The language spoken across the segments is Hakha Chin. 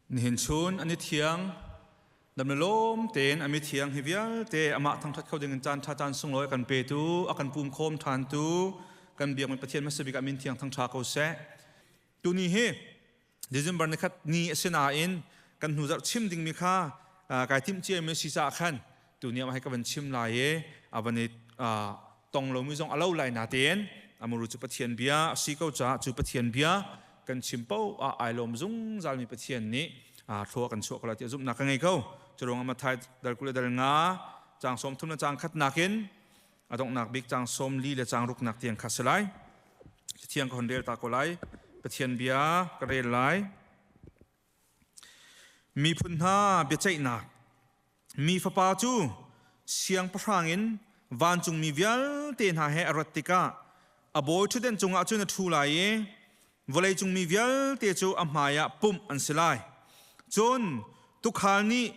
Nihin chun an i thiang. Dam le lawm tein an mi thiang hi vialte amah thangṭhat kho dingin caanṭha caan sunglawi a kan petu, a kan pum khawm ṭhantu, kan biakmi Pathian hmasa bik ah min thiang thangṭha ko seh. Tuni hi December ni khat ni a si nain kan hnu zarh chim dingmi kha kai timhciami a si caah khan tuni ah hai ka van chim lai i a van i tong lomi zong a lo lai na tein amuru cu pathian bia si ko caah cu pathian bia kan chim po a ai lom zungzalmi pathian nih thlua kan chuah kala ti zumnak ka ngei ko curung amathai dal kule dal nga cang som thum na cang khat nakin adongnak bik cang som li le cang ruknak tiang kha selai thiang ko rel ta ko lai pathian bia ka rel lai miphun hna biaceihnak Mi fapa cu siangpahrang in vancungmi vialte hna he a rat tikah a bawi ṭhutdenh cungah cun a ṭhu lai i vawleicung mi vialte cu a hmaiah pumh an si lai. Cun tuukhal nih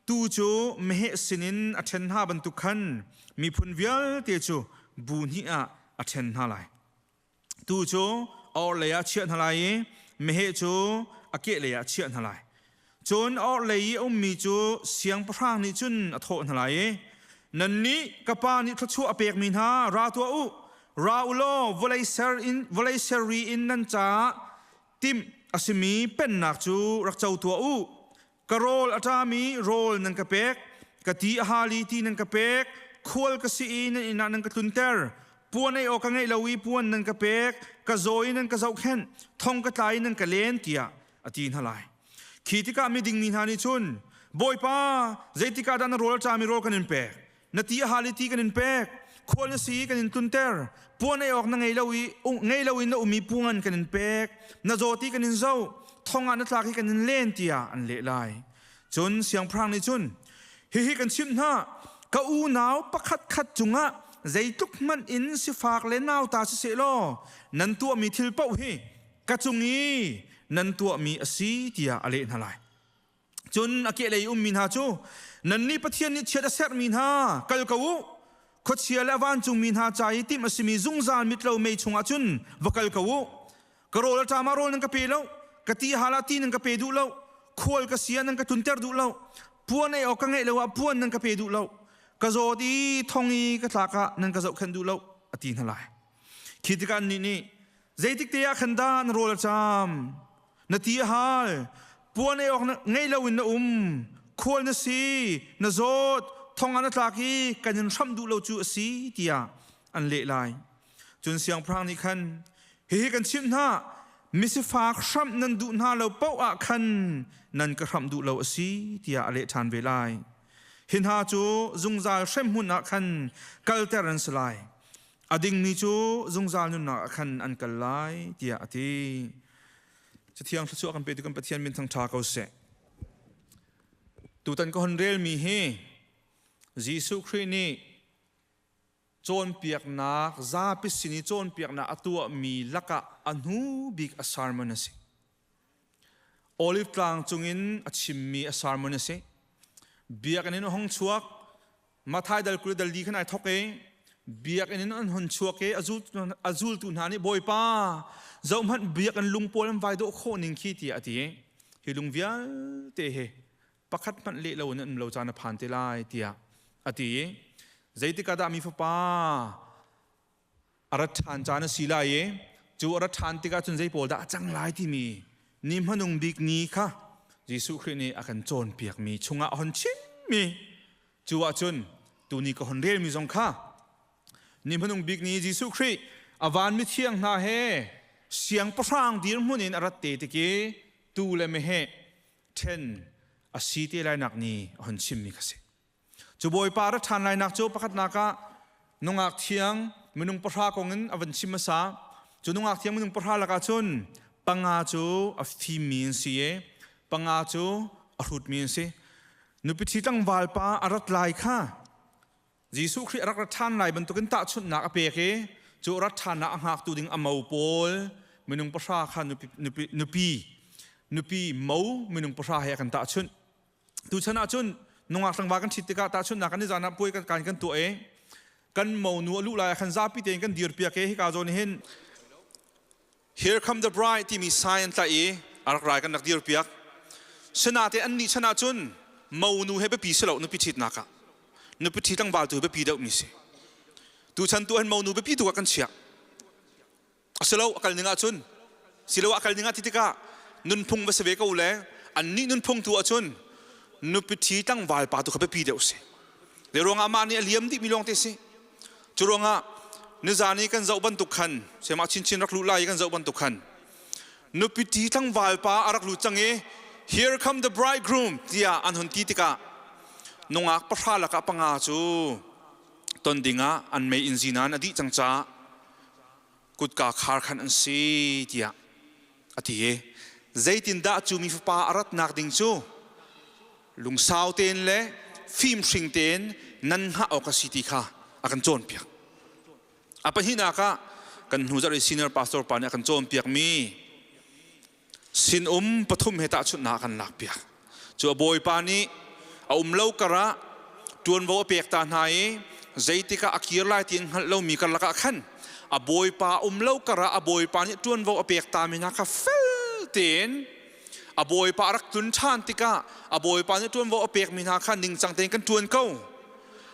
tuu cu meheh sinin a ṭhen hna bantuk khan miphun vialte cu bu hnih ah a ṭhen hna lai. tu cu orhlei ah chiah hna lai i meheh cu a kehlei ah chiah hna lai. Cun orhlei i a ummi cu siangpahrang nih cun a thawh hna lai i, Nannih ka pa nih thluachuah a pekmi hna ra tuah u. Ra u law vawlei ser in vawlei seri in nan caah timh a simi pennak cu rak co tuah u. ka rawl a ṭami rawl nan ka pek ka ti a hali ti nan ka pek khual ka si i nan innah nan ka tlunter puan ei awk ka ngeih lo i puan nan ka pek ka zaw i nan ka zohkhenh thong ka tlai nan ka len tiah a ti hna lai khi tikah miding mi hna nih cun bawipa zeitikah dah na rawl ṭami rawl kan in pek na ti a hal i ti kan in pek khual na si kan in tlunter puan ei awk na ngei lo i ngei lo in na umi pu ngan kan in pek na zawti kan in zo thong ah na tlak hi kan in len tiah an leh lai cun siangpahrang nih cun hihi kan chimh hna ka unau pakhat khat cungah zeitluk hmanh in sifak le nau ta si se law nan tuahmi thil paoh hi ka cung i nan tuahmi a si tiah a leh hna lai cun a kehlei ummi hna cu nannih pathian nih chiat a serhmi hna kal ko u khuachia le vancungmi hna ca i tim a simi zungzal mitlo mei chungah cun va kal ko u ka rawl a ṭam ah rawl nan ka pe lo ka ti hal ah ti nan ka pe duh lo khual ka sia nan ka tunter duh lo puan ei awk ka ngeih lo ah puan nan ka pe duh lo ka zawt i thong i ka tlak ah nan ka zohkhenh duh lo a ti hna lai khi tikhan ni nih zeitik te ah khan dah na rawl a ṭam Na ti a hal. Puan ei awk ngei loin na um. Khual na si. Na zawt. Thong ah na tlak i kan in hram duh lo cu a si tiah an leh lai. Cun siangpahrang nih khan hihi kan chimh hna misifak hramh nan duh hna lo paoh ah khan nan ka hramh duh lo a si tiah a leh ṭhan ve lai. Hi hna cu zungzal hremhmun ah khan kalter an si lai. a dingmi cu zungzal nunnak ah khan an kal lai tiah a ti cathiang thluachuah kan pe tu kan pathian min thang tha ko seh tutan ka hon relmi hi Jesuh Khrih nih cawnpiaknak zapi sin i cawnpiaknak a tuahmi lakah a hnu bik a sermon a si Olive tlang cungin a chimmi a sermon a si. Biakinn in hong chuak Mathai dal kule dal di khan ai thok e biakinn in an hon chuak e a zultu hna nih bawipa zohhmanh biakinn lungpawl an vai dawh khawh ning khi tiah a ti hi lung vialte he pakhat hmanh le lo in an lo caan a phan te lai tiah a ti zeitik ah dah mi fapa a rat ṭhan caan a si lai i cu a rat ṭhan tikah cun zei pawl dah a cang lai timi ni hmanung bik ni kha Jesuh Khrih nih a kan cawnpiakmi chungah a hon chimmi cu ahcun tuni ka hon relmi zong kha ni hmanung bik ni Jesuh Khrih a vanmi thiang hna he siangpahrang dirhmun in a rat te tik i tu le meheh ṭhen a si te lainak ni a hon chimmi kha si. Cu Bawipa ra ṭhan lainak cu pakhatnak ah nungak thiang minung pahra kong in a van chim hmasa. Cu nungak thiang minung pahra lakah cun panga cu a fimmi an si i panga cu a hrutmi an si. Nupi thi tlangval pa a rat lai kha Jesuh Khrih a rak rat ṭhan lai bantukin tahchunhnak a pek i cu rat ṭhannak a hngaktu ding a mo pawl minung pahra kha nupi, nupi, nupi mo minung pahra he a kan tahchunh. tuchan ah cun nungak hrangva kan ṭhit tikah tahchun kan i zan ah puai kan kan kan tuah i kan monu a luh lai khan zapi tein kan dir piak i hika zawn hin Here come the bride timi sign tla i a rak rai kan rak dir piak senate an nih chan ah cun monu he biapi si lo nupi ṭhit nakah nupi ṭhi tlangval tu biapi deuh mi si tu chan tu han monu biapi tu kan chiah silo a kal ning ahcun silo a kal ning ah ti tikah nunphung va si ve ko le annih nunphung tu ahcun nupi thi tlangval pa tu kha biapi deuh si le ruangah mah nih a liam dih mi lawng te si cu ruangah nizan i kan zoh bantuk khan semah chinchin rak lu lai i kan zoh bantuk khan nupi thi tlangval pa a rak lut cang i here come the bridegroom tiah an hun ti tikah nungak pahra lakah panga cu ton dingah an mei in zinan a dih cang ca kutka khar khan an si tiah a ti i zeitindah cu mi fapa a ratnak ding cu lungsau tein le fimhring tein nan hngah awk a si ti kha a kan cawnpiak a pahnihnak ah kan hnu zarh i senior pastor pa nih a kan cawnpiakmi sinum pathum he tahchunhnak kan lakpiak cu a bawipa nih a um lo karah ṭuanvo a pek ta hna i zeitikah a kir lai ti in hngalh lomi karlak ah khan a bawipa um lo karah a bawipa nih ṭuanvo a pek tami hna kha fel tein a bawipa a rak tlun ṭhan tikah a bawipa nih ṭuanvo a pekmi hna kha ningcang tein kan ṭuan ko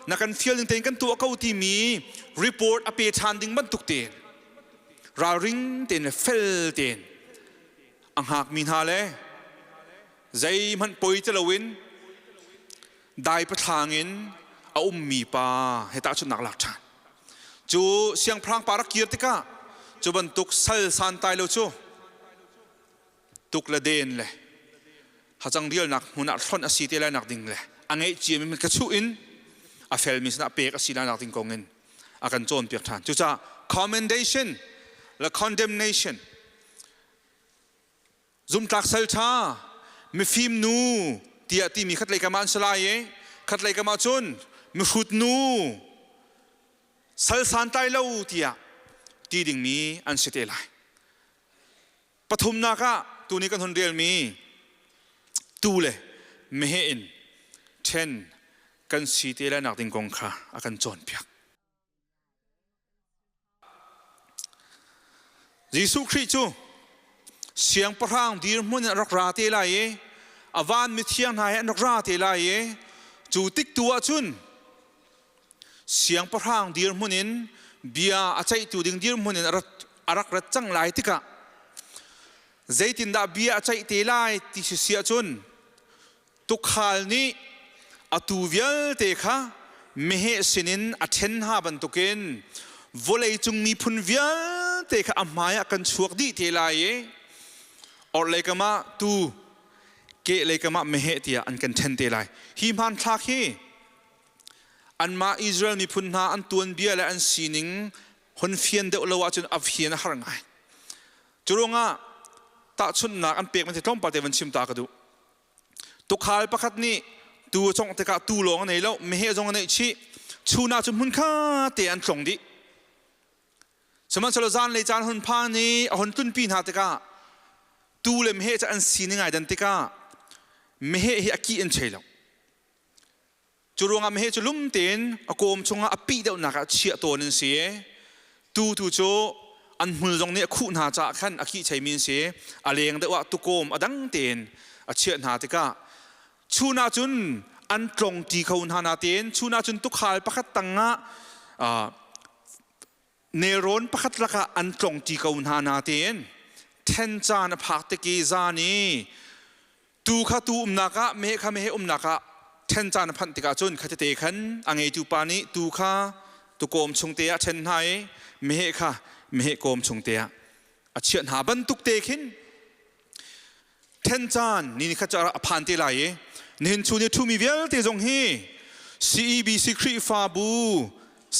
na kan fial ning tein kan tuah ko timi report a pe ṭhan ding bantuk tein ralring tein le fel tein a hngak mi hna le zeihmanh poi ti loin dai pathlang in a um mi pa he tahchun nak lak ṭhan cu siangpahrang pa rak kir tikah cu bantuk sal santai lo cu tuk le den le hacang rialnak hmun ah hlonh a si te lai nak ding le a ngeih cia mi ka chuh in a fel mi sinah pek a si lai nak ding kong in a kan cawn piak ṭhan cucaah commendation le condemnation zumtlak sal ṭha mifim nu tiah timi khatlei kamah an si lai i khatlei kamah cun mihrut nu sal santlai lo tiah ti dingmi an si te lai Pathumnak ah tuni kan hun relmi tuu le meheh in ṭhen kan si te lainak ding kong kha a kan cawnpiak. Jesuh Khrih cu siangpahrang dirhmun in rak ra te lai i a van mithiang hna he an rak ra te lai i cu tik tu ah cun siangpahrang dirhmun in bia a ceihtu ding dirhmun in a rak rat cang lai tikah zeitindah bia a ceih te lai ti si si ahcun tukhal nih a tu vialte kha meheh sinin a ṭhen hna bantukin vawleicung miphun vialte kha a hmaiah kan chuak dih te lai i orhlei kamah tu kehlei kamah meheh tiah an kan ṭhen te lai hi hmanthlak hi Anmah Israel miphun hna an tuanbia le an sining hun fian deuh lo ahcun a fian a har ngai. Cu ruangah tahchunhnak an pek man hi tlawmpal te van chim ta ka duh. Tukhal pakhat nih tuu a congh tikah tuu lawng a nei lo, meheh zong a neih chih. Chunak cu hmun kha te an tlong dih. Sihmanhsehlaw zan le caan hun phan i a hun tlunpi hna tikah tuu le meheh cu an sining ai dan tikah meheh hi a kih an thei lo. Cu ruangah meheh cu lum tein a kawm chungah a pih deuhnak ah chiah tawn an si i tutu cu an hmul zong nih a khuh hna caah khan a khihcheimi an si a leng deuh ah tukawm a dang tein a chiah hna tikah chun ah cun an tlongti kho hna natein chun ah cun tukhal pakhat tangah Nelrawn pakhat lakah an tlong ti ko hna natein then caan a phak tik i zan i tu kha tu umnak ah mehe kha mehe umnak ah then caan a phanh tikah cun khatete khan a ngeitu pa nih tu kha tu kawm chung te ah ṭhen hna i mehe kha mehe kawm chung te ah a chiah hna bantuk te khin then caan ni ni khat ca a phan te lai i nihin chun i ṭhumi vialte zong hi CEBC Khrihfabu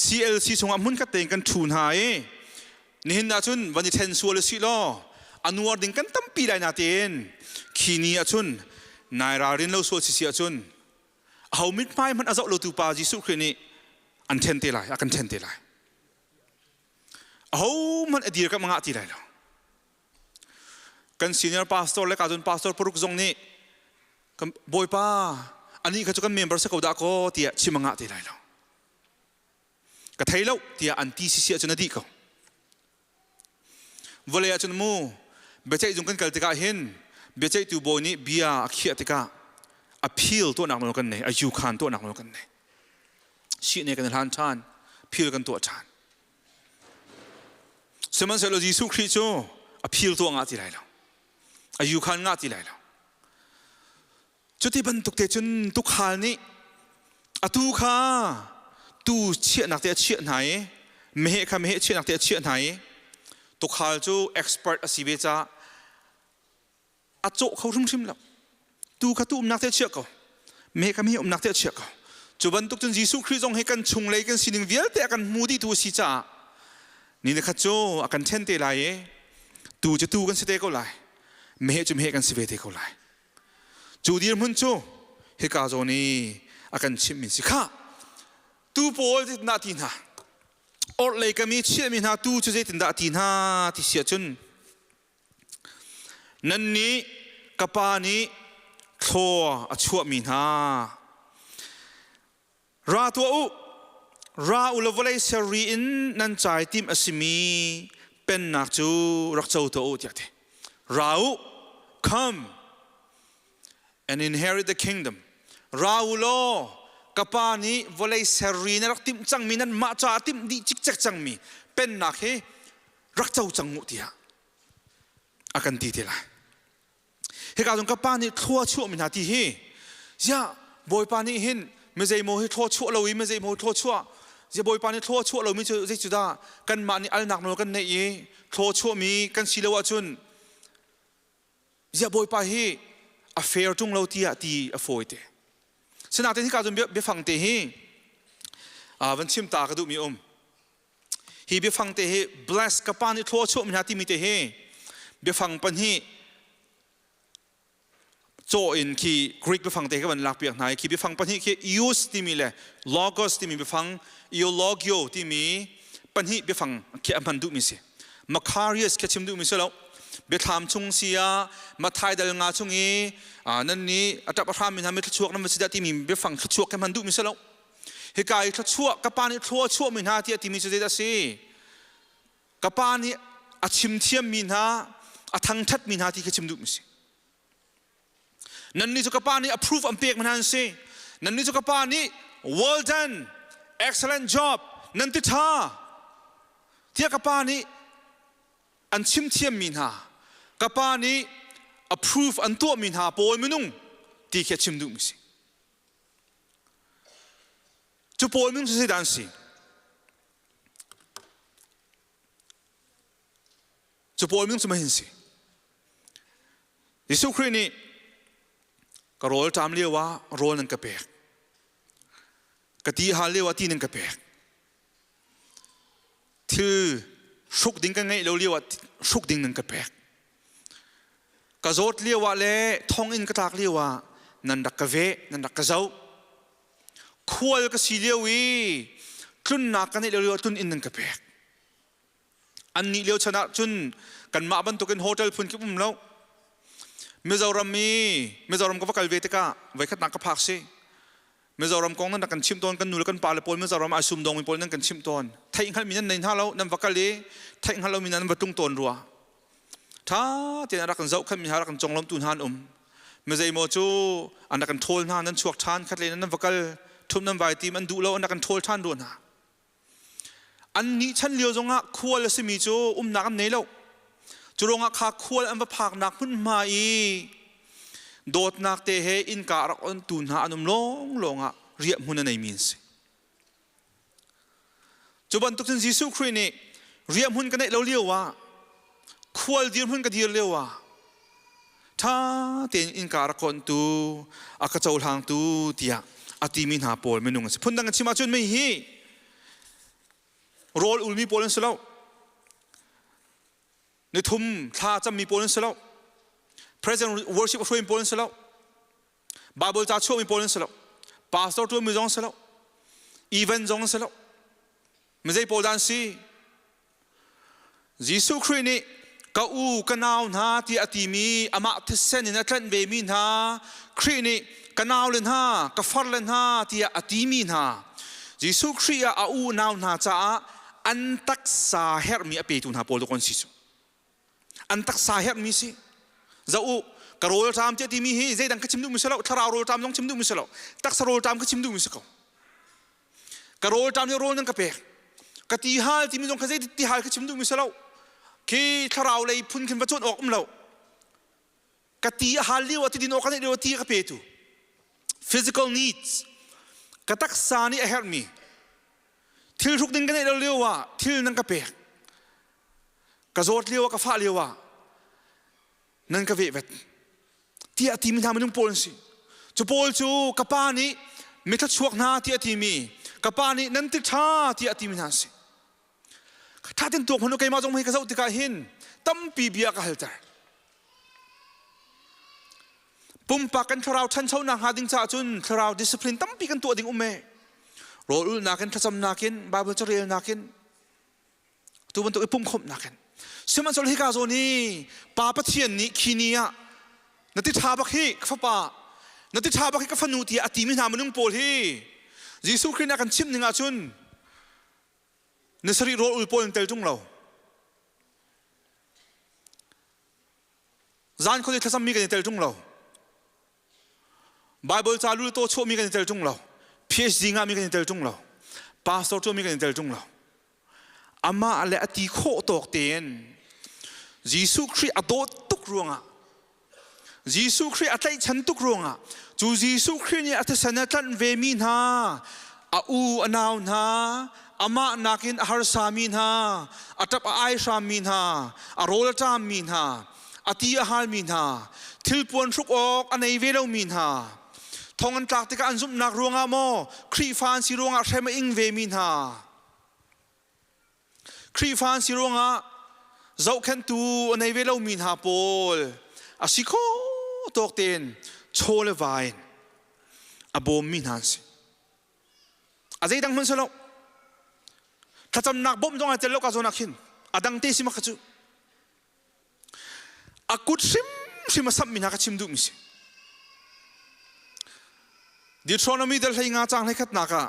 CLC chungah hmunkhat tein kan ṭhu hna i nihin ah cun van i ṭhen sual usih law a nuar ding kan tampi lai na tein khi ni ah cun nai ralrin lo sual sisi ah cun aho mithmai hmanh a zoh lotu pa Jesuh Khrih nih an ṭhen te lai a kan ṭhen te lai aho hmanh a dir ka mangah ti lai lo kan senior pastor le kadun pastor paruk zong nih bawipa ani kha chu kan member se ko da ko tiah chimanga te lai lo ka thei lo tiah an ti sisi ahcun a dih ko vale ahcun mu biaceih zung kan kal tikah hin biaceihtu bawi nih bia a khiah tikah appeal tuah nak lo kan nei a yu khan tuah nak lo kan nei si ne kan hlan than phil kan tuah than Sihmanhsehlaw Jesuh Khrih cu a phil tu ngah ti lai lo. A yu khan ngah ti lai lo. Cu ti bantuk te cun tukhal nih atu kha tuu chiahnak te a chiah hna i meheh kha meheh chiahnak te a chiah hna i tukhal cu expert a si ve caah a cawh kho hrimhrim lo tu kha tu umnak te chiah ko me kam hi umnak te chiah ko cu bantuk cun Jesuh Khrih zong hi kan chung lei kan sining vialte a kan hmu dihtu a si caah ni le khat cu a kan ṭhen te lai i tu cu tu kan si te ko lai mehe cu mehe kan si ve te ko lai cu dirhmun cu hika zawn i a kan chimhmi si kha tu pawl na ti hna orhlei kam i chiahmi hna tu cu zeitindah a ti hna ti sia cun Nan nih ka pa nih thlaw a chuahmi hna ra tuah u ra u le vawlei serri in nan cai tim a simi pennak cu rak co tuah u tiah ti ra u come and inherit the kingdom ra u law ka pa nih vawlei serri na rak timh cangmi nan mah caah timh dih cikcek cangmi pennak hi rak co cang uh tiah a kan ti te lai hika zong ka pa nih thlua chuahmi hna ti hi ya bawipa nih hin mizeimaw hi thlua chuah lo i mizeimaw hi thlua chuah ya bawipa nih thlua chuah lomi cu zei cu dah kanmah nih alnak nawl kan neih i thlua chuahmi kan si lo ahcun ya bawipa hi a fair tung lo tiah ti a fawi te sinaten hika zong biafang te hi van chim ta ka duhmi um hi biafang te hi bless ka pa nih thlaw chuah mi hna timi te hi biafang pahnih caw in khi greek biafang te khi van lak piak hna i khi biafang pahnih khi ius timi le logos timi biafang iologio timi pahnih biafang khi a hman duh mi si Macarius khi chim duh mi si lo biathlam chung sia mathai dal nga chung i nan ni atap ahram mi hna mi thluchuak nan va si da timi biafang thluchuak khi hman duh mi si lo hika i thluachuah ka pa nih thlua a chuahmi hna tiah timi cu zeidah a si ka pa nih a chim thiammi hna a thangṭhatmi hna ti khi chim duhmi si nannih cu ka pa nih approve an pek hna an si nannih cu ka pa nih well done excellent job nan ti ṭha tiah ka pa nih an chim thiammi hna ka pa nih approve an tuahmi hna pawi minung ti khi a chim duhmi si Cu pawl min cu zeidah an si? Cu pawl min cu mahin si? Jesuh Khrih nih ka rawl ṭam lio ah rawl nan ka pek. Ka ti hal lio ah ti nan ka pek. thil hruk ding kan ngeih lo lio ah hruk ding nan ka pek ka zawt lio ah le thong in ka tlak lio ah nan rak ka ve nan rak ka zoh khual ka si lio i tlunnak ka neih lio lio ah tlun inn nan ka pek annih lio chan ah cun kanmah bantukin hotel phun kip um lo Mizoram i Mizoram ka va kal ve tikah voikhatnak ka phak si Mizoram kong nan kan chimh tawn kan nu le kan pa le pawl Mizoram ai sum dong mi pawl nan kan chimh tawn theih hngalmi nan nei hna lo nan va kal i theih hngal lomi nan va tlung tawn rua ṭha tein rak kan zohkhenh mi hna rak kan conglawmtu hna an um mizeimaw cu an rak kan ṭhawl hna nan chuak ṭhan khat le nan va kal ṭhum nan vai tim an duh lo an rak kan ṭhawl ṭhan rua hna An nih chan lio zongah khual a simi cu umnak an nei lo. Cu ruangah kha khual an va phaknak hmunhma i dawtnak te he innka a rak ontu hna an um lawnglawng ah riahhmun a neimi an si. Cu bantuk cun Jesuh Khrih nih riahhmun ka neih lo lio ah khual dirhmun ka dir lio ah ṭha tein innka rak kontu a ka cohlangtu tiah a timi hna pawl minung an si phundang an chim ahcun mi hi rawl ulmi pawl an si lo nithum thla cammi pawl an si lo present worship hruaimi pawl an si lo bible ca chuahmi pawl an si lo pastor ṭuanmi zong si lo event zong si lo mizei pawl dan si Jesuh Khrih nih ka u ka nau hna tiah a timi amah thisen in a tlanh vemi hna Khrih nih ka nau le hna ka far le hna tiah a timi hna Jesuh Khrih ah a unau hna caah an taksa herhmi a petu hna pawl duk an si cu an taksa herhmi si za u ka rawlṭam tiah timi hi zeidang ka chim duhmi si lo thlarau rawlṭam zong chim duhmi si lo taksa rawlṭam ka chim duhmi si ko ka rawl ṭam hi rawl nan ka pek ka ti hal timi zong kha zeitin ti hal kha chim duhmi si lo khi thlarau lei phun khin va cuan awk um lo ka ti a hal lio ah ti din awk kan lio ti ka pe tu physical needs ka taksa nih a herhmi thil ruk ding ka neih lio ah thil nan ka pek ka zawt lio ah ka fah lio ah nan ka vehvet tiah a timi hna minung pawl an si cu pawl cu ka pa nih mitha chuak hna tiah a timi ka pa nih nan ti ṭha tiah a timi hna si thatin tuak hmanu keimah zong hei ka zoh tikah hin tampi bia ka halter pumpak kan thlarau ṭhanchonak hnga ding caah cun thlarau discipline tampi kan tuah ding um e rawlulnak in thlacamnak in bible carelnak in tu bantuk i pumkhawmhnak in sihmanhsehlaw hika zawn i pa pathian nih khi ni ah na ti ṭha bak hi ka fapa na ti ṭha bak hi ka fanu tiah a timi hna minung pawl hi Jesuh Khrih nih a kan chimh ning ahcun na sarih rawl ul pawl in tel ṭung lo zan khuali thlacammi kan i tel ṭung lo Bible ca lu to chawmi kan tel ṭung lo. PhD ngami kan tel ṭung lo. Pastor ṭuami kan tel ṭung lo. Amah le a ti khawh tawk tein Jesuh Khrih a dawt tuk ruangah Jesuh Khrih a tlaihchan tuk ruangah cu Jesuh Khrih nih a thisen a tlanh vemi hna a u a nau hna amah nakin a harsami hna a ṭap a ai hrammi hna a rawl a ṭammi hna a ti a halmi hna thilpuan hruk awk a nei ve lomi hna thong an tlak tikah an zumhnak ruangah maw Khrihfa an si ruangah hrem a ing vemi hna Khrihfa an si ruangah zohkhentu a nei ve lomi hna pawl a si kho tawk tein chaw le vain a bawmmi hna an si a zeidang hman salo thlacamnak bawmh zong ai tel lo ka zonak hin a dang te si maka cu a kut hrimhrim a samhmi hna kha chim duhmi si Deuteronomy dal hlei nga cang hlei khatnak ah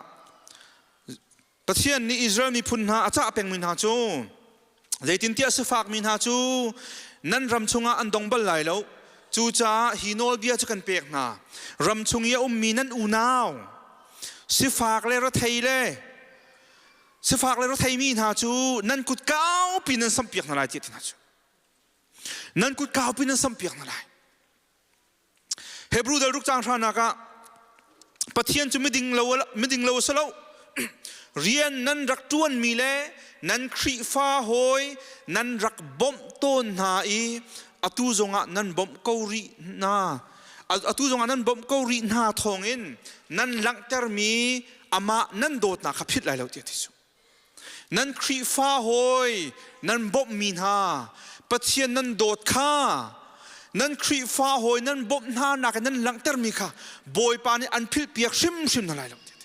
Pathian nih Israel miphun hna a cah pengmi hna cu zeitintiah sifakmi hna cu nan ram chungah an dong bal lai lo cucaah hi nawlbia cu kan pek hna ram chung i a ummi nan unau sifak le rethei le sifak le rotheimi hna cu nan kut kaupi nan sampiak hna lai tiah ti hna cu nan kut kaupi nan sampiak hna lai hebrew dal ruk cang hranak ah pathian cu miding lo miding lo salo rian nan rak tuan mi le nan khrifa hoi nan rak bom tawn hna i atu zongah nan bom ko ri na atu zongah nan bom ko ri hna thawngin nan langhter mi amah nan dawtnak kha philh lai lo tiah Jesuh. Nan Khrihfa hawi nan bawmhmi hna Pathian nan dawt kha nan Khrihfa hawi nan bawmh hna nak in nan langhtermi kha Bawipa nih an philhpiak hrimhrim hna lai lo tiah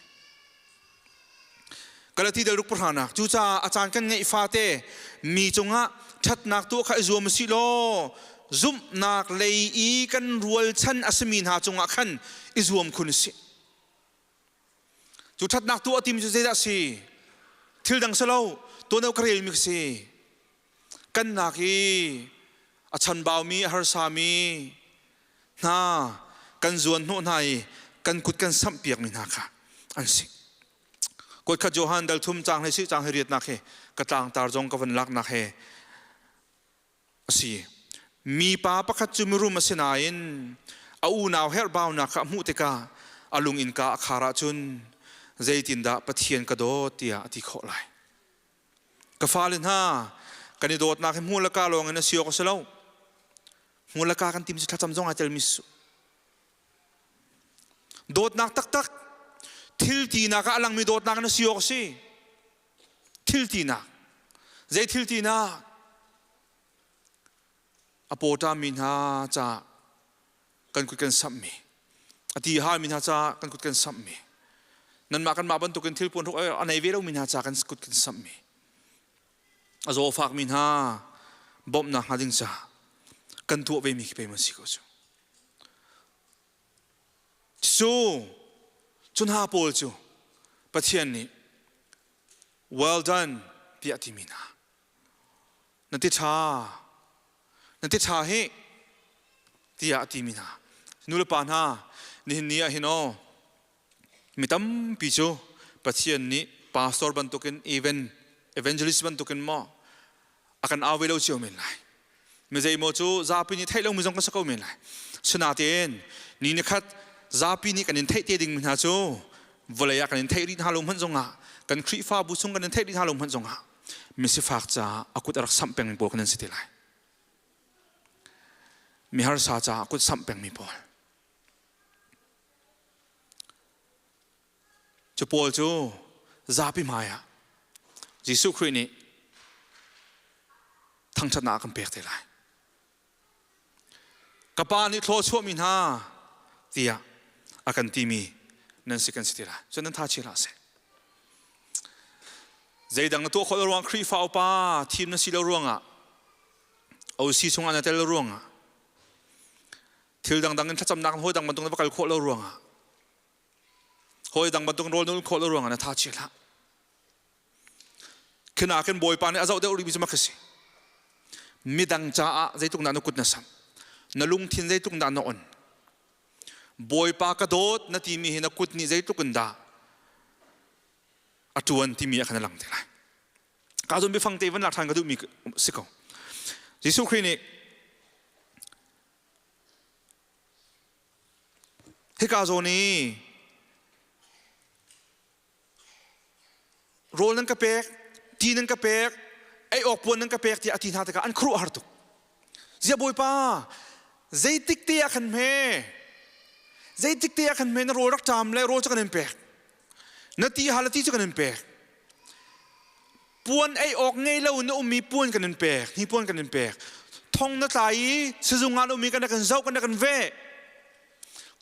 Galati dal ruk pahranak cucaah a caan kan ngeih fate mi cungah ṭhatnak tuah kha i zuam u si law zumhnak lei i kan rualchan a simi hna cungah khan i zuam khun u si. Cu ṭhatnak tu a tim cu zeidah si? Thil dang si lo, tuan ka rel mi si. Kan nak i a chanbaumi, a harsami hna kan zuan hnawh hna i kan kut kan samhpiak mi hna kha an si. Kuat khat Johan dal thum cang he si cang he riatnak he ka tlangtar zong ka van laknak he a si mipa pakhat cu mirum a si nain a unau herhbaunak kha a hmuh tikah a lung innka a khar ahcun zeitindah Pathian ka dawt tiah a ti khawh lai ka fale hna kan i dawtnak hi hmuh le ka lawng in a si awk a si lo hmuh le ka kan tim cu thlacam zong aa telmi su dawtnak taktak thiltinak ah a langmi dawtnak in a si awk a si thiltinak zei thiltinak a pawṭami hna ca kan kut kan samhmi a ti halmi hna ca kan kut kan samhmi nanmah kanmah bantukin thil puan ruk a nei ve lomi hna ca kan kut kan samhmi a zaw fakmi hna bawmhnak hnga ding ca kan tuah vemi khi pei man si ko cu Cu cu hna pawl cu Pathian nih well done tiah timi hna. Na ti ṭha, na ti ṭha hi tiah a timi hna. Nulepa hna, nihin ni ah hin aw, Mi tampi cu Pathian nih pastor bantukin even evangelist bantukin maw a kan awe lo cio men lai mi zeimaw cu zapi nih theih lomi zong ka si ko men lai sinatin ni ni khat zapi nih kan in theih te ding mi hna cu vawlei ah kan in theih rih hna lo hmanh zongah kan khrihfabu chung kan in theih rih hna lo hmanh zongah mi sifak caah a kut a rak samh peng mi pawl kan in si ti lai mi harsa caah a kut samh peng mi pawl Cu pawl cu zapi hmaiah Jesuh Khrih nih thangṭhatnak kan pek te lai. Ka pa nih thlaw chuahmi hna tiah a kan timi nan si kan si ti lai. Cun nan thachial hlah seh. Zeidang na tuah khawh lo ruang Khrihfa upa thim na si lo ruangah, OC chungah na tel lo ruangah, thil dangdang in thlacamnak hawi dang bantuk na va kal khawh lo ruangah hawi dang bantuk rawl nul khawh lo ruangah na tha chia hlah khina khin bawipa nih a zoh deuh rihmi cu mak si midang caah zeitluk dah na kut na sam na lungthin zeitluk dah na on bawipa ka dawt na timi hi na kut nih zeitluk in dah a tuan timi a kan lang te lai ka zon biafang te van lak than ka duhmi si ko jesuh khrih nih Hika zawn i rawl nan ka pek, ti nan ka pek, ei awk puan nan ka pek tiah a ti hna tikah an khuaruah har tuk. Ziah Bawipa, zeitik te ah khan hme, zeitik te ah khan hme na rawl rak ṭam le rawl cu kan in pek, na ti hal a ti cu kan in pek. puan ei awk ngei lo na ummi puan kan in pek hnipuan kan in pek thong na tlai i sizung ah na ummi kan kan zoh kan kan veh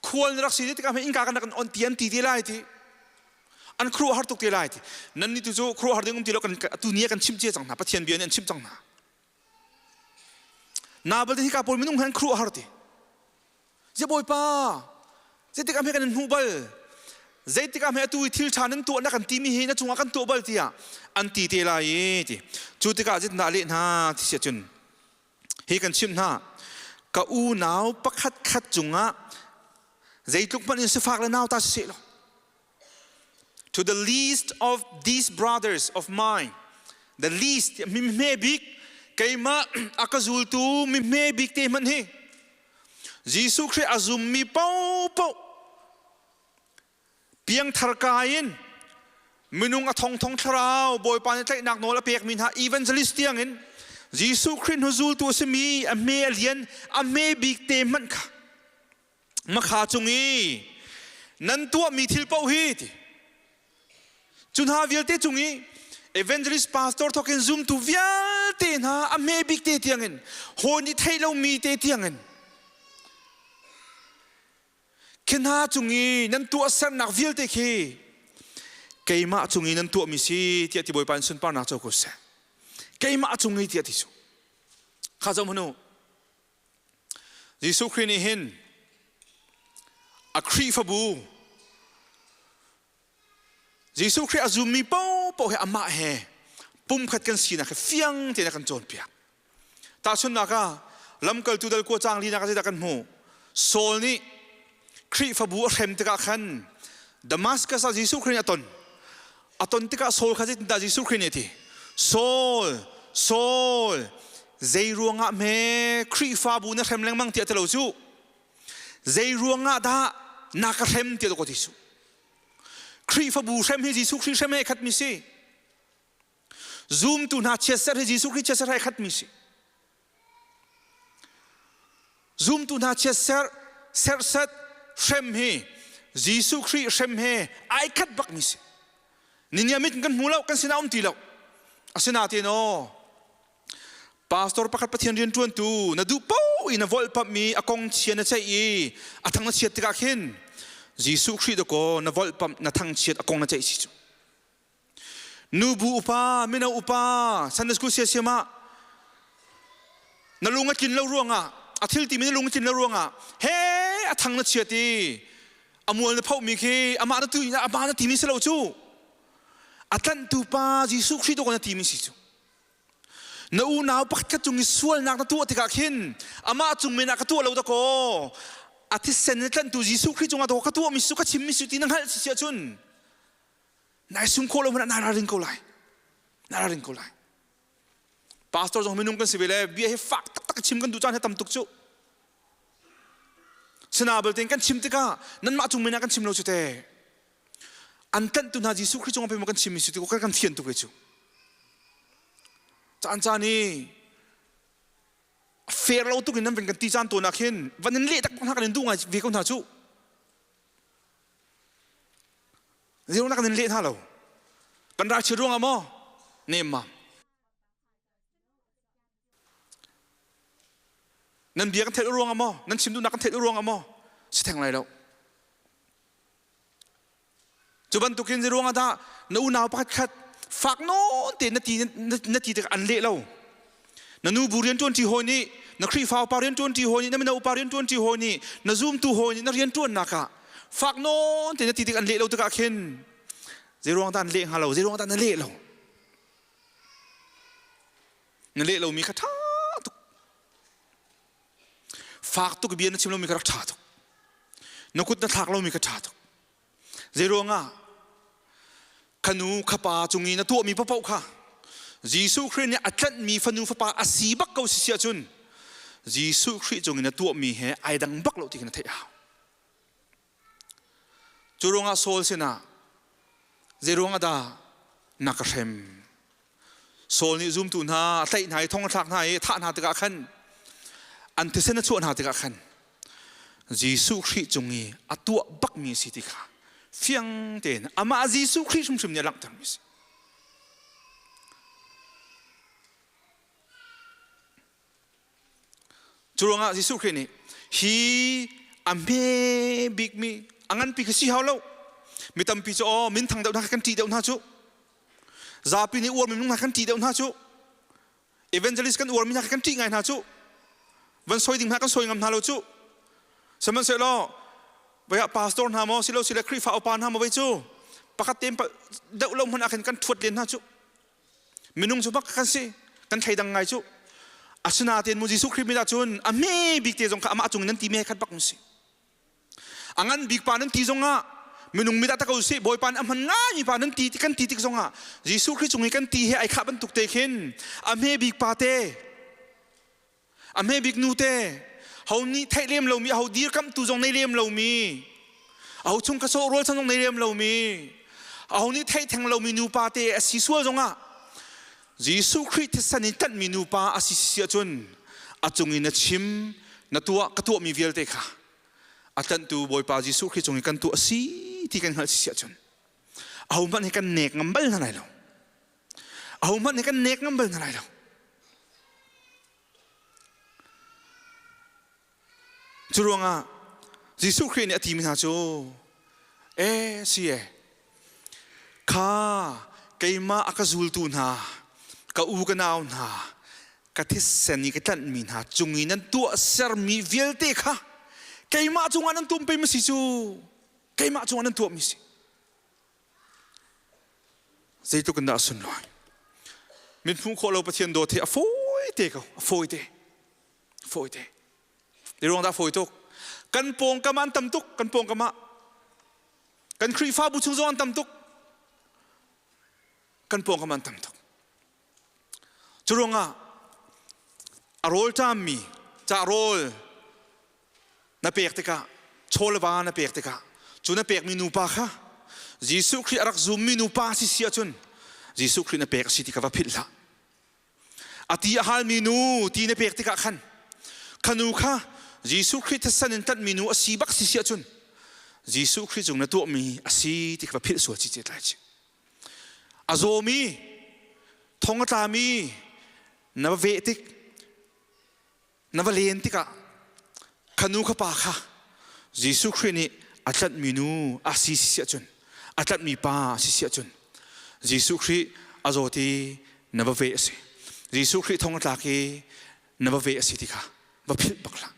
khual na rak si tikah innka kan kan on ti an ti ti lai ti an khruh har tuk ti lai ti nan ni tu cu khruh har ding um ti lo kan tu ni kan chim cia cang hna pathian bia nih an chim cang hna Nabal te hika pawl minung han khru a har ti. Je bawipa, zeitik am he kan hnu bal zeitik am he atu i thil ṭha nan tuah na kan ti mi hi na cungah kan tuah bal tiah an ti te lai i ti cu tikah zitna leh hna ti si cun hi kan chim hna ka unau pakhat khat cungah zeitluk hmanh in sifak le nauta si seh law To the least of these brothers of mine, the least mimhme bik keimah a ka zultu mimhme bik te hman hi Jesuh Christ a zummi popo piangthar ka in minung a thongthong thlarau bawipa nih tlaihnak nawl a pekmi hna evangelist tiang in Jesuh Christ hnu zultu a simi a hme a lian a hme bik te hmanh kha makha cung i nan tuahmi thil paoh hi ti cu hna vialte cung i evangelist pastor thokin zumtu vialte hna a hme bik te tiangin hawn i thei lomi te tiangin khi hna cung i nan tuah sernak vialte khi keimah cung i nan tuahmi si tiah ti bawipa in sunparnak co ku seh keimah cung i tiah ti su kha zom hnu Jesuh Khrih nih hin a Khrihfabu Jesuh Khrih a zummi paohpaoh hi amah he pumkhat kan sinak hi fiang tein a kan cawnpiak. Tahchunhnak ah, lamkaltu dal kua cang linak ah zeidah kan hmuh? Saul nih Khrihfabu a hrem tikah khan Damaskus ah Jesuh Khrih nih a ton. a ton tikah Saul kha zeitindah Jesuh Khrih nih a ti Saul Saul zei ruangah hme Khrihfabu na hrem lengmang tiah ti lo cu zei ruangah dah na ka hrem tiah ka ti su Khrihfabu hrem hi Jesuh Khrih hrem he khat mi si zumtu hna chiatserh hi Jesuh Khrih chiatserh he khat mi si Zumtu hna chiat serh serset hrem hi Jesuh Khrih hrem he ai khat bakmi si. Ninia mit kan hmu lo kan sinah um ti lo. Asinain o pastor pakhat pathian rian ṭuantu na duh po in na volhpamhmi a kong chia na ceih i a thang na chiat tikah khin Jesuh Khrih dakaw na volhpamh na thangchiat a kong na ceih si cu. nubu upa mino upa sunday school sia siam ah na lung a tlin lo ruangah a thil ti mi na lung a tlin lo ruangah he a thang na chiat i a mual na phoh mi khi amah na tu amah na ti mi si lo cu a tlanhtu pa Jesuh Khrih tu ko na ti mi si cu na unau pakhat cung i sualnak na tuah tikah khin amah cung men ah ka tuah lo da kaw a thisen na tlanhtu Jesuh Khrih cungah ka tuah mi su ka chim mi su ti na hngalh si si ahcun Nai sum khawh lo hmanh ah nai ralring ko lai. Nai ralring ko lai. Pastor zong minung kan si ve le bia hi fak taktak chim kan duh caan hi tam tuk cu. Sina belte in kan chim tikah nanmah cung men ah kan chim lo cu te. An tanhtu hna Jesuh Khrist cung ah pei kan chim mi cu ti kan kan thian tuk ve cu. Caan caan i fair lo tuk in nan vin kan ti caan to nak hin van in leh tak hna kan in duh ngai ve ko hna cu. Zeu nak nan leh hna lo. Kan rak chit ruangah maw nem ma. Nan bia kan theih ruangah maw nan chim duhnak kan theih ruangah maw si theng lai lo. Cu bantukin ze ruangah dah na unau pakhat khat fak non te na ti na ti te an le lo na nubu rianṭuanṭi hawi nih na khrihfaupa rianṭuanṭi hawi nih na mino upa rianṭuanṭi hawi nih na zumtu hawi nih na rianṭuannak ah fak nawn tein na ti tik an leh lo tikah khin zeiruang dah an leh hnga lo zeiruang dah na leh lo na leh lomi kha ṭha tuk fak tuk bia na chim lomi kha rak ṭha tuk na kut na thlak lomi kha ṭha tuk Zeiruangah? Khanu khapa cung i na tuahmi paoh kha Jesuh Khrih nih a tlanhmi fanu fapa a si bak ko si si ahcun Jesuh Khrih cung i na tuahmi he ai dang bak lo ti khi na theih hau. Cu ruangah Saul sinah zei ruangah dah na ka hrem? Saul nih zumtu hna tlaih hna i thong a thlak hna i thah hna tikah khan an thisen a chuah hna tikah khan Jesuh Khrih cung i a tuah bakmi si ti kha fiang tein amah Jesuh Khrih hrimhrim nih a langhtermi a si. Cu ruangah Jesuh Khrih nih hi a hme bikmi a nganpi kha si hau lo mi tampi cu aw minthang deuh hna kan ṭih deuh hna cu zapi nih uar minung hna kan ṭih deuh hna cu evangelist kan uar mi hna kan ṭih ngai hna cu van soi ding hna kan soi ngam hna lo cu sihmanhsehlaw vei ah pastor hna maw si lo si le Khrihfa upa hna maw vei cu pakhat tein deuh lo hmanh ah khin kan ṭhuat len hna cu minung cu bak kan si kan thleidang ngai cu asinain mu jesuh khrih mit ahcun a hme bik te zong kha amah cung nan ti me khat bak si a ngan bik pa nan ti zong ah minung mit ah tak usih bawipa a hman ngaimi pa nan ti ti kan ti tik zong ah jesuh khrih cung i kan ti he ai khah bantuk te khin a hme bik pa te a hme bik nute ho nih theih lem lomi ho dirkamhtu zong nei lem lomi ho chung ka sawh rual san zong nei lem lomi ho nih theih theng lomi nupa te a si sual zongah Jesuh Khrih thisan in tanhmi nupa a si si ahcun a cung in a chim na tuah ka tuahmi vialte kha a tlanhtu Bawipa Jesuh Khrih cung i kan tuah a si ti kan hngalh si ahcun ahohmanh he kan nek ngam bal hna lai lo ahohmanh nih kan nek ngam bal hna lai lo cu ruangah jesuh khrih nih a timi hna cu e si e kha keimah a ka zultu hna ka u ka nau hna ka thisen i ka tlanhmi hna cung i nan tuah sermi vialte kha keimah cungah nan tum pemi si cu keimah cungah nan tuahmi si zeitluk in dah a sunlai mithmuh khawh lo pathian dawt hi a fawi te ko a fawi te fawi te i ruang dah fawi tuk kan pawngkam ah an tam tuk kan pawngkam ah kan khrihfabu chung zong an tam tuk kan pawngkam an tam tuk Curuangah a rawl ṭammi ca rawl na pek tikah, chawlva na pek tikah, cu na pekmi nupa kha Jesuh Khrih a rak zummi nupa si si ahcun Jesuh Khrih na pek a si ti ka va philh hlah. A ti a halmi nu ti na pek tikah khan khanu kha Jesuh Khrih thatsan in tanhmi nu a si bak si si ahcun Jesuh Khrih cung na tuahmi a si ti ka va philh sual cicet lai cih. A zawmi, thong a tlami na va veh tik, na va len tikah khanu khapa kha Jesuh Khrih nih a tlanhmi nu a si si ahcun a tlanhmi pa a si si ahcun Jesuh Khrih a zawt i na va veh a si. Jesuh Khrih thong a tlak i na va veh a si ti kha va philh bak hlah.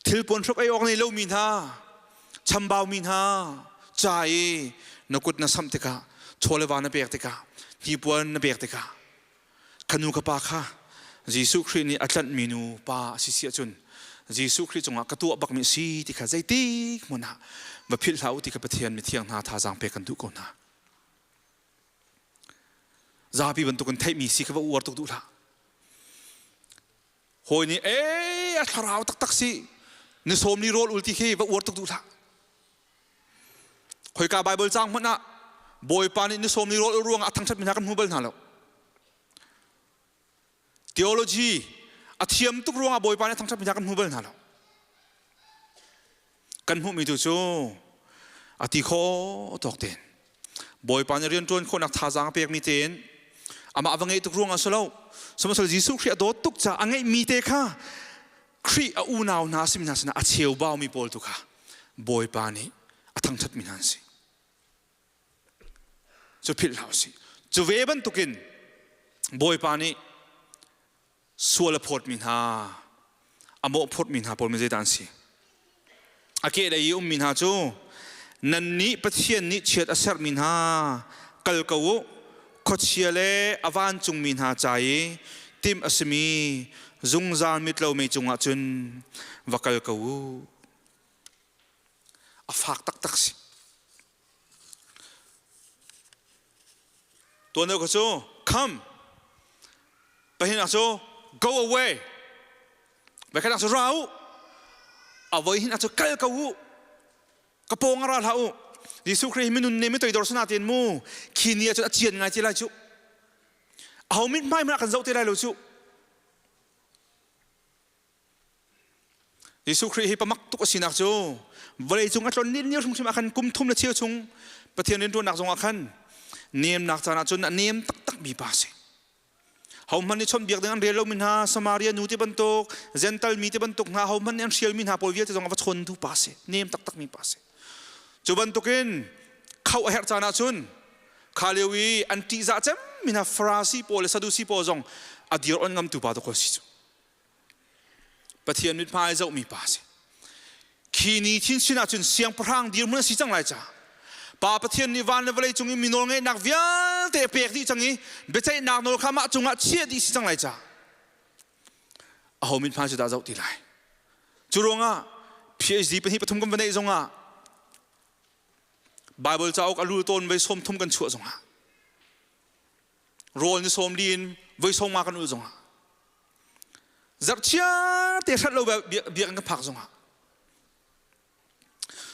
Thil pun hruk ei awk nei lomi hna, chambau mi hna, ca i na kut na sam tikah, chawle va na pek tikah, hnipuan na pek tikah, kanu ka pa kha Jesuh Khrih nih a tlanhmi nu pa a si si ahcun Jesuh Khrih cungah ka tuah bakmi si ti kha zeitik hmun ah va philh hlah u ti kha Pathian mithiang hna thazaang pek kan duh ko hna. Zapi bantuk in theihmi si ka va uar tuk duh hlah. hawi nih e a thlarau taktak si ni sawm ni rawl ul ti khi va uar tuk duh hlah khoika bible cang hmanh ah bawipa nih ni sawm ni rawl ul ruangah a thangṭhat mi hna kan hmu bal hna lo theology a thiam tuk ruangah bawipa nih a thangṭhat mi hna kan hmu bal hna lo kan hmuhmi tu cu a ti khawh tawk tein bawipa nih rian ṭuan khawhnak thazaang a pekmi tein amah va ngeih tuk ruang ah si lo sihmanhsehlaw Jesuh Khrih a dawt tuk caah a ngeihmi te kha Khrih a unau hna simi hna sinah a cheubaumi pawl tu kha bawipa nih a thangṭhatmi hna an si cu philh hlah u sih cu ve bantukin bawipa nih sual a phawtmi hna a mawh phawtmi hna pawl mi zeitan si a kehlei i ummi hna cu nan nih pathian nih chiat a sermi hna kal ko u khuachia le a vancungmi hna ca i tim a simi zungzal mitlo mei cungah cun va kal ko u a fak taktak si Tuan deuh kha cu come. Pahinak cu go away. Bekhanak cu ra u. Avoi hin acu kal ko u. Ka pawng ara hla u. Jesuh Khrih minun ne mi toidor sana tin mu. Khi ni acun acian ngai ti lai cu. Aho mit hmai mana kan zoh ti lai lo cu. Jesuh Khrih hi pamak tuk a sinak cu vawleicung a tlon ni hrimhrim ah khan kum thum le cheu chung Pathian rianṭuannak zongah khan nemnak caan ahcun a nem taktak mi pa a si. Hohmanh nih chawnhbiak ding an rel lomi hna, Samaria nu ti bantuk, Gental mi ti bantuk hna, hohmanh nih an hrialmi hna pawl vialte zongah va chawntu pa a si. Nem taktak mi pa a si. Cu bantukin khauh a herh caan ahcun kha lio i an ṭihzah cemmi hna Farasi pawl le Sadusi pawl zong a dir on ngamtu pa dawk a si cu. Pathian mit hma ai zohmi pa si khi ni chin sin ahcun siangpahrang dirhmun a si cang lai caah pa pathian nih van le vawlei cung i mi nawl ngaihnak vialte a pek dih cang i biaceihnak nawl kha mah cungah chiah dih si cang lai caah aho mit hma cu dah zoh ti lai cu ruangah PhD pahnih pathum kan va neih zongah Bible cauk a rul tawn vai sawm thum kan chuah zongah rawl ni sawm li in voi sawm nga kan ul zong ah zarhchia te hrat lo biak in ka phak zong ah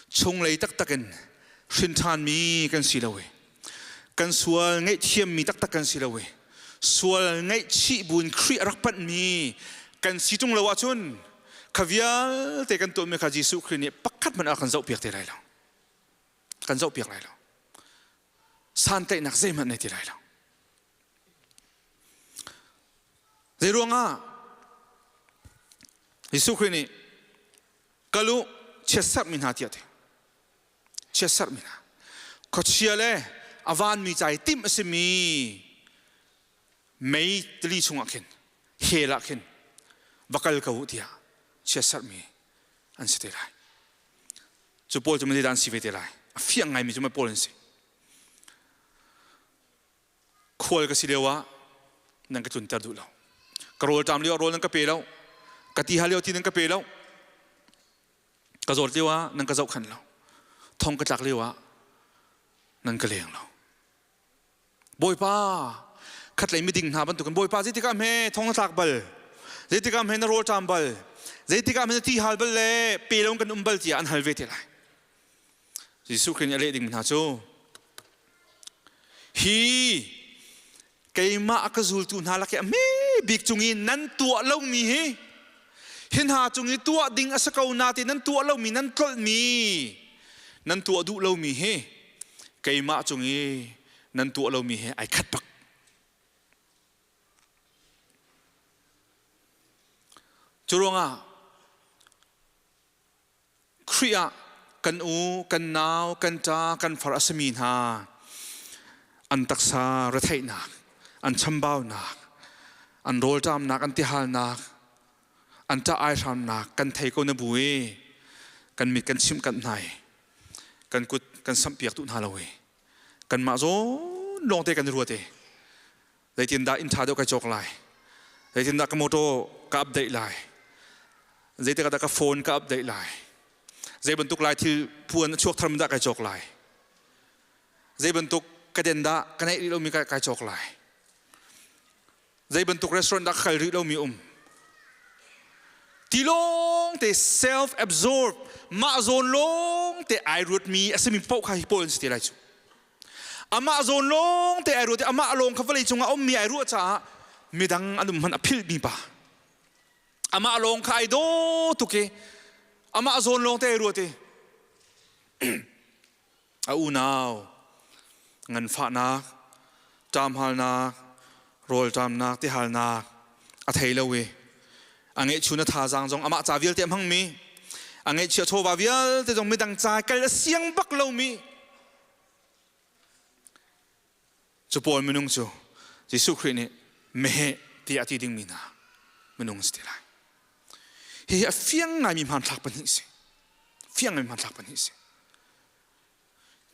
chunglei taktak in hrinṭhan mi kan si lo i kan sual ngaihthiam mi taktak kan si lo i sual ngaihchih buin Khrih a rak panh mi kan si ṭung lo ahcun kha vialte kan tuahmi kha Jesuh Khrih nih pakhat hmanh a kan zoh piak te lai lo kan zoh piak lai lo santlaihnak zeihmanh nei ti lai lo zei ruangah Jesuh Khrih nih ka lu chiatserhmi hna tiah ti chiatserhmi hna khuachia le a vanmi ca i timh a simi mei tili chungah khin hell ah khin va kal ko u tiah chiatserhmi an si te lai Cu pawl cu mei zeidah an si ve te lai? A fiang ngaimi cu mei pawl an si. Khual ka si lio ah nan ka tlunter duh lo. Ka rawl ṭam lio ah rawl nan ka pe lo. Ka ti hal lio ti nan ka pe lo. Ka zawt lio ah nan ka zohkhenh lo. Thong ka tlak lio ah nan ka leng lo. Bawipa khatlei miding hna bantukin Bawipa zeitikah hme thong na tlak bal zeitikah hme na rawl ṭam bal zeitikah hme na ti hal bal le pe lo kan um bal tiah an hal ve te lai Jesuh Khrih nih a leh dingmi hna cu hi keimah ka zultu hna lak i a hme bik cung i nan tuah lomi hi hi hna cung i tuah ding a si ko na ti nan tuah lomi nan tlolhmi nan tuah duh lomi hi keimah cung i nan tuah lomi he ai khat bak cu ruangah Khrih ah kan u, kan nau, kan ṭa, kan far a sami hna an taksa retheihnak, an chambaunak, an rawlṭamnak, an tihalnak an ṭah ai hramnak kan thei ko na bu i kan mit kan chimh kanh hna i kan kut kan sampiak tu hna lo i kanmah zawn lawng te kan ruat i zeitindah inn ṭha deuh kai cawk lai zeitindah ka motor ka update lai zeitik dah ka phone ka update lai zei bantuk lai thil phuan chuak thar dah kai cawk lai zei bantuk ka den dah ka neih rih lomi kai cawk lai zei bantuk restaurant dah kal rih lomi um tilawng te self absorb mah zawn lawng te ai ruatmi a simi poh kha hi pawl an si te lai cu amah zawn lawng te ai ruat i amah lawng kha vawlei cungah a ummi ai ruah caah midang an um hman a philhmi pa amah lawng kha ai daw tuk i amah zawn lawng te ai ruat i a unau nganfahnak ṭamhalnak rawlṭamnak tihalnak a thei lo i a ngeihchun a thazaang zong amah ca vialte a hmangmi a ngeihchia chawva vialte zong midang ca kal a siang bak lomi Cu pawl minung cu Jesuh Khrih nih meheh tiah a ti dingmi hna minung si ti lai. Hihi a fiang ngaimi hmanthlak pahnih si. Fiang ngaimi hmanthlak pahnih si.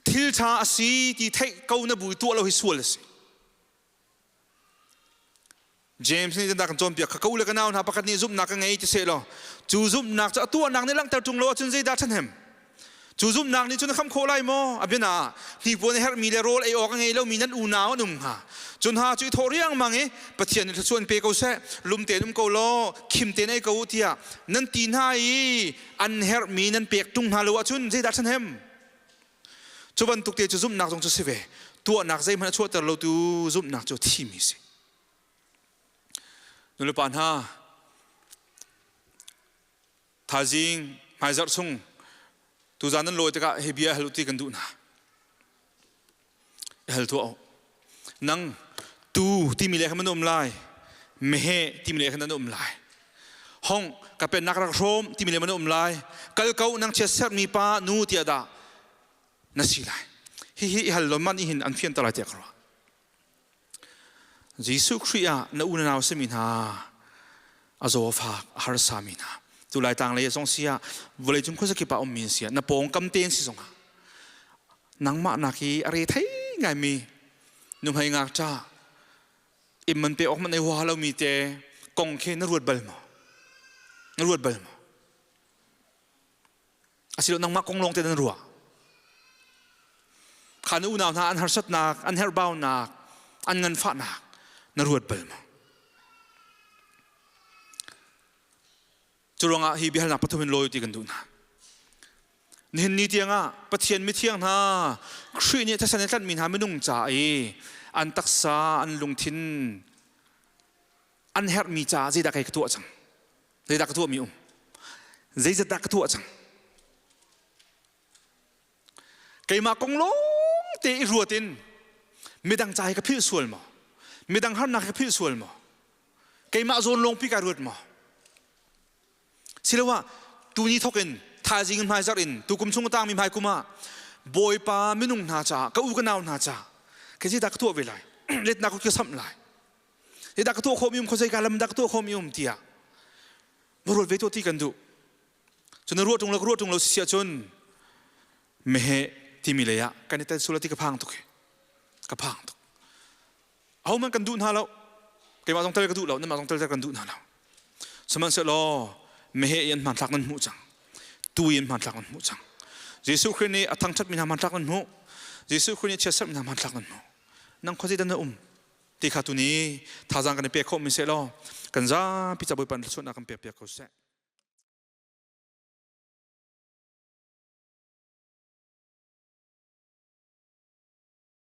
Thil ṭha a si ti theih ko na bu tuah lo hi sual a si. James nih Dandak kan cawnpiak kha ko le ka nau hna pakhat nih zumhnak ka ngei ti sehlaw cu zumhnak cu a tuahnak nih langhter ṭung lo ahcun zeidah ṭhahnem? Cu zumhnak nih cun na kham khawh lai maw? A bianaah hnipuan a herhmi le rawl ei awk a ngei lomi nan unau an um hnga. Cu hna cu i thawh riangmang i Pathian nih thluachuan pe ko seh, lum tein um ko law khim tein ei ko u tiah nan ti hna i an herhmi nan pek ṭung hna lo ahcun zeidah ṭhahnem? Cu bantuk te cu zumhnak zong cu si ve. Tuahnak zeihmanh a chuahter lotu zumhnak cu thimi a si. Nulepa hna, thaizing hmaizarh chung tuzan nan lawi tikah hi bia hal u ti kan duh hna. Hal tuah u. Nang tu timi le khan nan um lai. Mehe timi le khan nan um lai. Hong ka pennak rak hrom timi le nan um lai. Kal ko nang chia sermi pa nu tiah dah na si lai. Hi hi i hal lon man i hin an fian ta lai tiah ka ruah. Jesuh Khrih ah na unau simi hna a zawfa a harsa mi hna tu lai tang lei zong si ah vawlei cung khuasa kip ah ummi si ah na pawngkam tein si zong ah nangmah nak hi a re thei ngai mi nuhmei ngakṭa im man pe awk man ei hua lo mi te kong khi na ruat bal maw na ruat bal maw asilo nangmah kong lawng te nan ruah kha na unau hna an harsatnak an herhbaunak an nganfahnak na ruat bal maw cu ruangah hi biahalnak pathum in lawi ti kan duh hna nihin ni tiangah pathian mithiang hna khrih nih thesan i tlanhmi hna minung ca i an taksa an lungthin an herhmi caah zeidah kai ka tuah cang zeidah ka tuahmi um zeizatdah ka tuah cang keimah kong lawng te i ruat in midang ca hi ka philh sual maw midang harnak hi ka philh sual maw keimah zawn lawng pi ka ruat maw siloah tu ni thawk in thaizing hmaizarh in tu kum chung tangmi hmai kum ah bawipa minung hna caah ka u ka nau hna caah ka zeidah ka tuah ve lai letnak ka samh lai hidah ka tuah khawmi um khosei ka lam dah ka tuah khawmi um tiah va ruat ve tuah ti kan duh cun na ruah ṭung lo ka ruah ṭung lo si si ahcun mehe timi lei ah kan i tel sul ti ka phang tuk hi ka phang tuk ho man kan duh hna lo keimah zong tal ka duh lo namah zong tal kan duh hna lo sihmanhsehlaw mehe i an hmanthlak nan hmuh cang tu i an hmanthlak nan hmuh cang jesuh khrist nih a thangṭhat mi hna hmanthlak nan hmuh jesuh khrist nih chiatserh mi hna hmanthlak nan hmuh nang khuazei dan na um ti kha tuni thazang kan i pek khawh mi se law kan zapi cabuai pan suatnak kan pek piak ko seh